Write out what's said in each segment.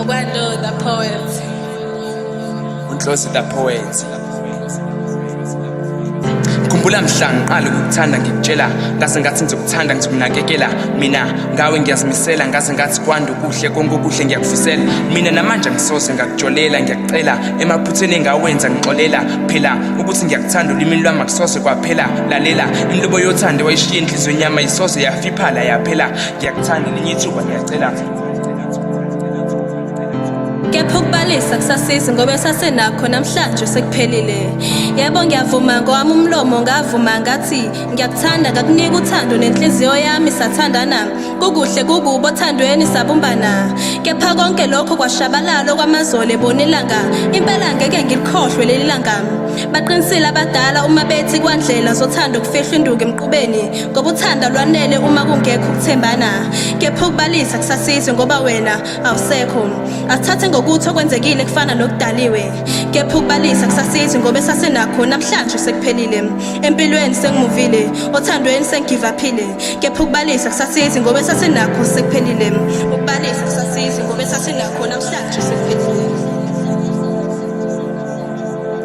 Ubando the poet. Unhlosi the poet. ngikhumbula mhla ngiqala ukukuthanda ngikutshela ngase ngathi ngizokuthanda ngizokunakekela mina ngawe ngiyazimisela ngase ngathi kwanda ukuhle konke okuhle ngiyakufisela mina namanje ngisoze ngakujolela ngiyakucela emaphutheni engawenza ngixolela phela ukuthi ngiyakuthanda ulimini lwami akusoze kwaphela lalela inhlobo yothando wayishiya enhliziyweni yami ayisoze yafiphala yaphela ngiyakuthanda elinye ithuba ngiyacela kepha ukubalisa kusasizi ngoba esasenakho namhlanje sekuphelile yebo ngiyavuma ngowami umlomo ngavuma ngathi ngiyakuthanda ngakunika uthando nenhliziyo yami sathandana kukuhle kukubo othandweni sabumbana kepha konke lokho kwashabalala okwamazolo ebona ilanga impela ngeke ngilikhohlwe leli langa baqinisile abadala uma bethi kwandlela zothando kufihlwa induku emqubeni ngoba uthanda lwanele uma kungekho ukuthembana kepha ukubalisa kusasizwe ngoba wena awusekho asithathe ngokuthi okwenzekile kufana nokudaliwe kepha ukubalisa kusasizwe ngoba esasenakho namhlanje sekuphelile empilweni sengimuvile othandweni sengigivaphile kepha ukubalisa kusasizwe ngoba esasenakho sekuphelile ukubalisa kusasizwe ngoba esasenakho namhlanje sekuphelile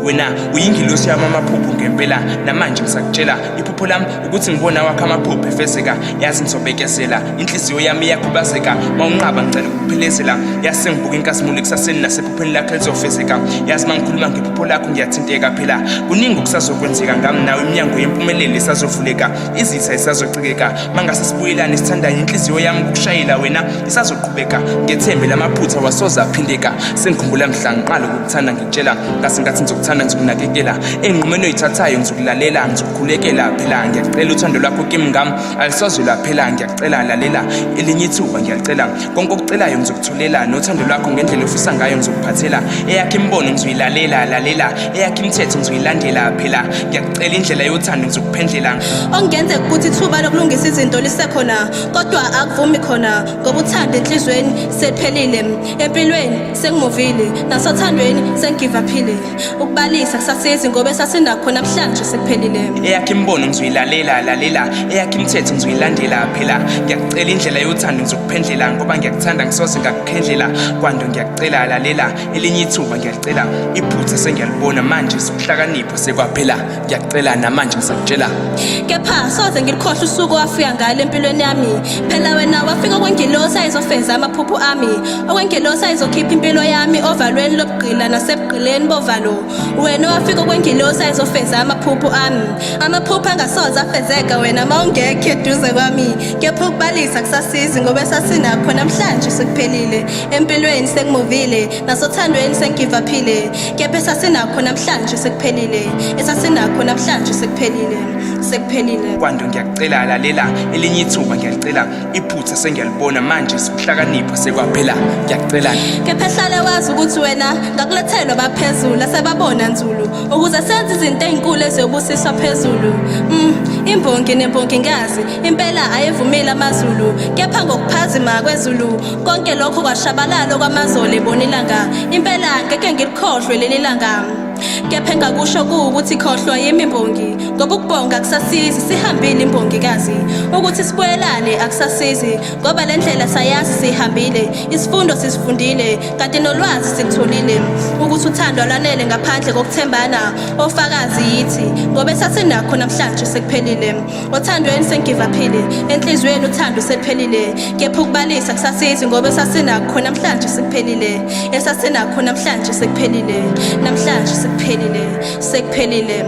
wena uyingilosi yami amaphupho ngempela namanje ngisakutshela iphupho lami ukuthi ngibona wakho amaphupho efezeka yazi ngizobekezela inhliziyo yami iyakhubazeka ma unqaba ngicela ukuphelezela yazi sengibuka inkazimulo ekusaseni nasephupheni lakho elizofezeka yazi ma ngikhuluma ngephupho lakho ngiyathinteka phela kuningi okusazokwenzeka ngami nawe iminyango yempumelelo isazovuleka izitha isazocikeka ma ngase sibuyelane sithandanye inhliziyo yami ukushayela wena isazoqhubeka ngethembe lamaphutha wasoze aphindeka sengikhumbula mhla ngiqala ukukuthanda ngikutshela ngasenkathi ngizokuthanda ngizokunakekela enqumeni oyithathayo ngizokulalela ngizokukhulekela phela ngiyacela uthando lwakho kimi ngami alisoze lwaphela ngiyacela lalela elinye ithuba ngiyacela konke okucelayo ngizokuthulela nothando lwakho ngendlela ofisa ngayo ngizokuphathela eyakhe imibono ngizoyilalela lalela eyakhe imithetho ngizoyilandela phela ngiyakucela indlela yothando ngizokuphendlela ongenze ukuthi ithuba lokulungisa izinto lisekhona kodwa akuvumi khona ngoba uthanda enhlizweni sephelile empilweni sengimuvile nasothandweni sengigivaphile ukubalisa kusasizi ngoba esasinakhona kuhlanje sekuphelile eyakhe imibono ngizoyilalela lalela eyakhe imithetho ngizoyilandela phela ngiyakucela indlela yothando ngizokuphendlela ngoba ngiyakuthanda ngisoze ngakuphendlela kwanto ngiyakucela lalela elinye ithuba ngiyalicela iphutha sengiyalibona manje sokuhlakanipha sekwaphela ngiyacela namanje ngisakutshela kepha soze ngilikhohle usuku wafika ngalo empilweni yami phela wena wafika okwengilosi ayizofeza amaphupho ami okwengilosi ayizokhipha impilo yami ovalweni lobugqila nasebugqileni bovalo wena wafika okwengilosi ayizofeza amaphupho ami amaphupho angasoze afezeka wena ma ungekho eduze kwami kepha ukubalisa kusasizi ngoba esasinakho namhlanje sekuphelile empilweni sekumuvile nasothandweni sengivaphile kepha esasinakho namhlanje sekuphelile esasinakho namhlanje sekuphelile sekuphelile kwanto ngiyakucela lalela elinye ithuba ngiyalicela iphutha sengiyalibona manje sikuhlakanipha sekwaphela ngiyakucela kepha ehlale wazi ukuthi wena ngakulethelwa baphezulu asebabona nzulu ukuze senze izinto ezinkulu eziyobusiswa phezulu mm, imbongi nembongi ngazi impela ayevumile amazulu kepha ngokuphazima kwezulu konke lokho kwashabalala okwamazolo ebona ilanga impela ngeke ngilikhohlwe leli langa kepha engakusho kuwukuthi khohlwa yimi mbongi ngoba ukubonga akusasizi sihambile imbongikazi ukuthi sibuyelane akusasizi ngoba le ndlela sayazi siyihambile isifundo sisifundile kanti nolwazi silutholile ukuthi uthando lwanele ngaphandle kokuthembana ofakazi yithi ngoba esasinakho namhlanje sekuphelile Othandweni sengivaphile, enhliziyweni uthando sephelile. Kepha ukubalisa kusasizi ngoba esasinakho namhlanje sekuphelile. Esasinakho namhlanje sekuphelile. Namhlanje sekuphelile. Sekuphelile.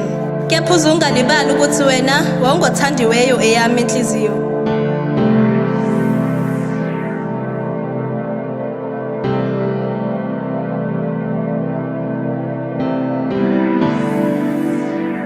Kepha uzungalibali ukuthi wena wawungothandiweyo eyami inhliziyo.